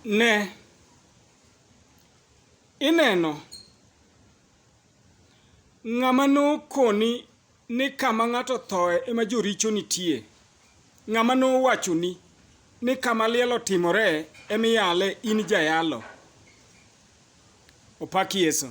Ne! Ineno? Ng'ama nokoni ni kama ng'ato othoe ema joricho nitie, ng'ama nowachoni ni kama liel otimore ema iyale in jayalo. Opak Yesu.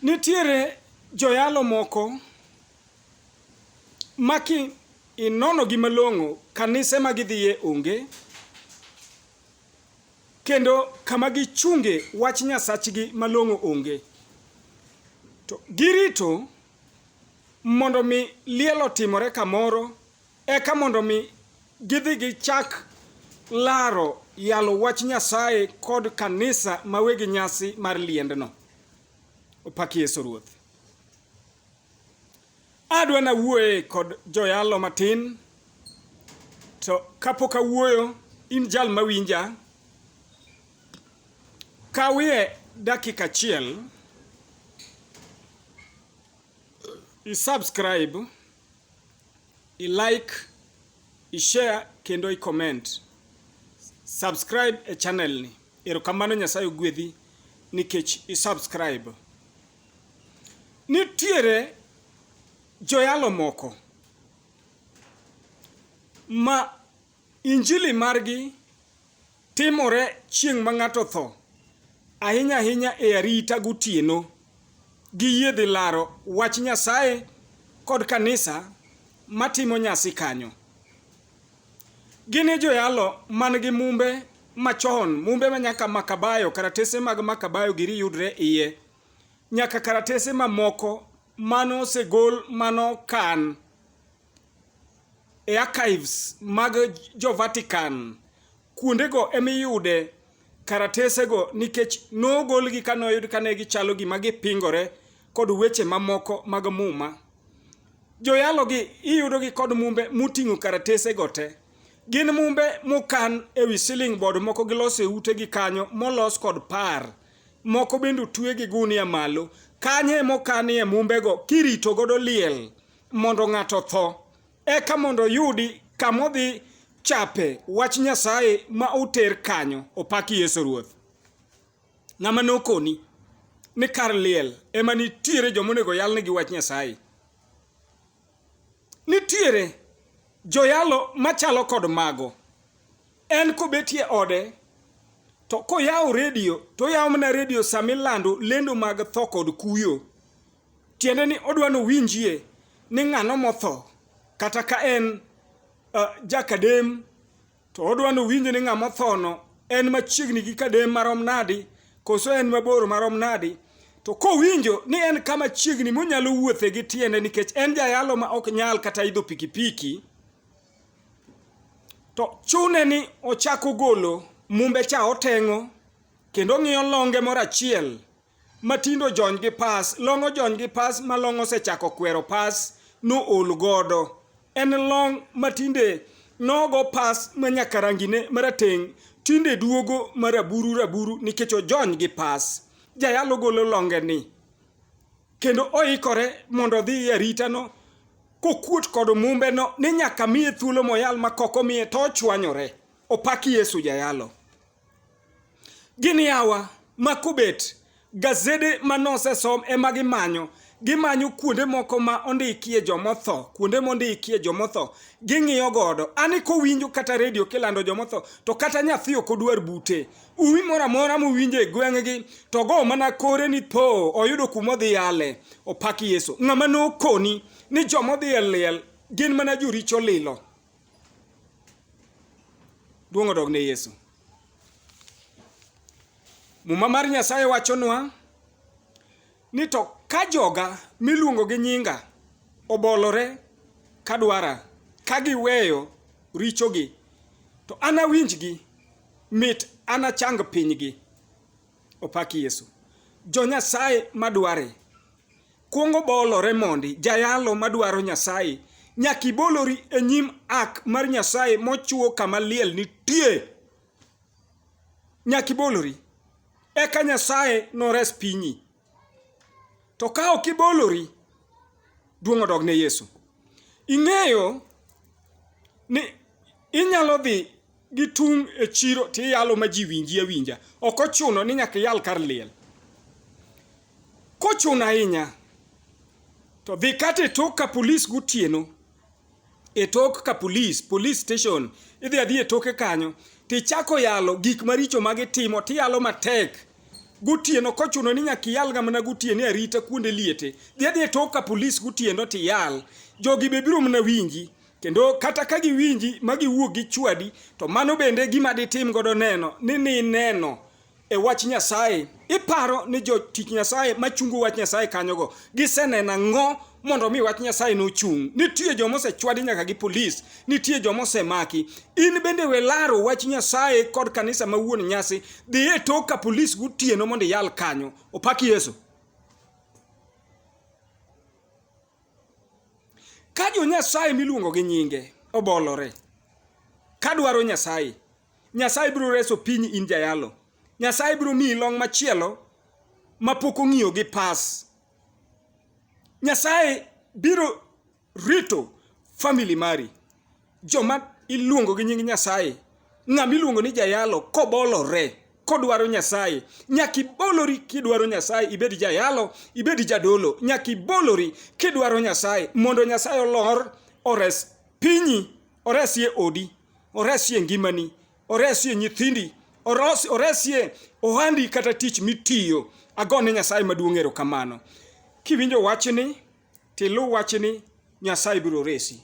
Nitiere joyalo moko Maki inono gi malong'o kanise ma gidhiye onge kendo kama gichunge wach nyasachgi malong'o onge to girito mondo mi liel otimore kamoro eka mondo mi gidhi gichak laro yalo wach nyasaye kod kanisa mawegi nyasi mar liendno opaki yesu ruoth Adwa na wuoye kod joyalo matin to kapok awuoyo in jal mawinja kawie dakika achiel isubscribe ilike ishare kendo icomment subscribe e channel ni erokamano nyasaye ogwedhi nikech isubscribe Nitiere joyalo moko ma injili margi timore chieng' ma ng'ato tho, ahinya ahinya e arita gotieno. Giyie dhi laro wach Nyasaye kod kanisa matimo nyasi kanyo. Gin e joyalo man gi mumbe machon, mumbe ma nyaka Makabayo, karatese mag Makabayo giri yudre iye. nyaka karatese mamoko mano osegol mano kan e archives mag jo Vatican kuondego emiyude karatesego nikech nogolgi ka noyud kane gichalo gima gipingore kod weche mamoko mag muma joyalogi iyudogi kod mumbe moting'o karatesego te gin mumbe mokan e wi siling bod moko giloso e utegi kanyo molos kod par moko bende otwe gi gunia malo. Kanyo ema okanie mumbego kirito godo liel mondo ng'ato otho, eka mondo oyudi kama odhi chape wach Nyasaye ma oter kanyo. Opak Yesu Ruoth. Ng'ama nokoni ni kar liel ema nitiere joma onego yalnegi wach Nyasaye. Nitiere joyalo machalo kod mago. En kobetie ode to koyawo redio to oyawo mana redio sama ilando lendo mag tho kod kuyo. Tiende ni odwa ni owinjie ni ng'ano motho kata ka en uh, jakadem To odwa nowinj ni ng'ama othono en machiegni gi kadem marom nadi, koso en mabor marom nadi. To kowinjo ni en kama chiegni monyalo wuothe gi tiende nikech en jayalo ma ok nyal kata idho pikipiki, to chune ni ochako golo mumbe cha oteng'o kendo ng'iyo longe moro achiel Matindo jony gi pas, long ojony gi pas ma long osechako kwero pas no ol godo. En long matinde nogo pas ma nyaka rangine marateng' tinde duogo maraburu raburu nikech ojony gi pas. Jayalo golo longe ni kendo oikore mondo odhi e aritano kokuot kod mumbeno ni nyaka miye thuolo moyal ma koko miye to ochwanyore. Opak Yesu jayalo. Gini yawa makobet gazede ma nosesom ema gimanyo gimanyo kuonde moko ma ondikie jomotho kuonde mondikie jomotho ging'iyo godo ani kowinjo kata redio kilando jomotho to kata nyathi ok odwar bute umi moro amora mowinjo e gweng'gi to go mana kore ni po oyudo kuma odhi yale opak yesu ng'ama nokoni ni jomodhi e liel gin mana joricho lilo Duong' odog ne Yesu. Muma mar Nyasaye wachonwa ni to ka joga miluongo gi nyinga obolore ka dwara ka giweyo richogi to anawinjgi mit anachang pinygi. Opak Yesu. Jo Nyasaye madware. Kuongo bolore mondi jayalo madwaro Nyasaye, nyaka ibolori e nyim ak mar Nyasaye mochuo kama liel nitie. Nyaka ibolori. Eka Nyasaye nores pinyi. To ka ok ibolori, duong' odog ne Yesu. Ing'eyo ni inyalo dhi gitung' e chiro to iyalo ma ji winji awinja. Ok ochuno ni nyaka iyal kar liel. Kochuno ahinya to dhi kata e tok ka polis gotieno, e tok ka polis, police station, idhi adhiya e toke kanyo to ichako yalo gik maricho ma gitimo to iyalo matek gotieno kochuno ni nyaka iyalga mana gotieno e arita kuonde liete. Dhi adhiya e tok ka polis gotieno to iyal. Jogi be biro mana winji. kendo kata ka giwinji ma giwuok gi chwadi to mano bende gima ditim godo neno ni ni neno e wach Nyasaye iparo ni jotich Nyasaye machungo wach Nyasaye kanyogo giseneno ang'o mondo mi wach Nyasaye nochung'. Nitie joma osechwadi nyaka gi polis, nitie joma osemaki. In bende we laro wach Nyasaye kod kanisa ma wuon nyasi, dhi e tok ka polis gotieno mondo iyal kanyo. Opak Yesu. Ka jo Nyasaye miluongo gi nyinge obolore ka dwaro Nyasaye, Nyasaye biro reso piny in jayalo. Nyasaye biro miyi long' machielo ma pok ong'iyo gi pas. Nyasaye biro rito family mari. Joma iluongo gi nying Nyasaye, ng'ama iluongo ni jayalo kobolore kodwaro Nyasaye, nyaka ibolori kidwaro Nyasaye, ibed jayalo, ibed jadolo, nyaka ibolori kidwaro Nyasaye mondo Nyasaye olor ores pinyi, oresie odi, oresie ngimani, oresie nyithindi, oresie ohandi kata tich mitiyo. Agone Nyasaye maduong' erokamano. Kiwinjo wachni tiluw wachni Nyasaye biro resi.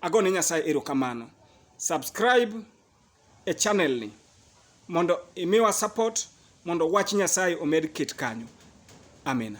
Ago ne Nyasaye erokamano. Subscribe e channel ni mondo imiwa support mondo wach Nyasaye omed ket kanyo. Amina.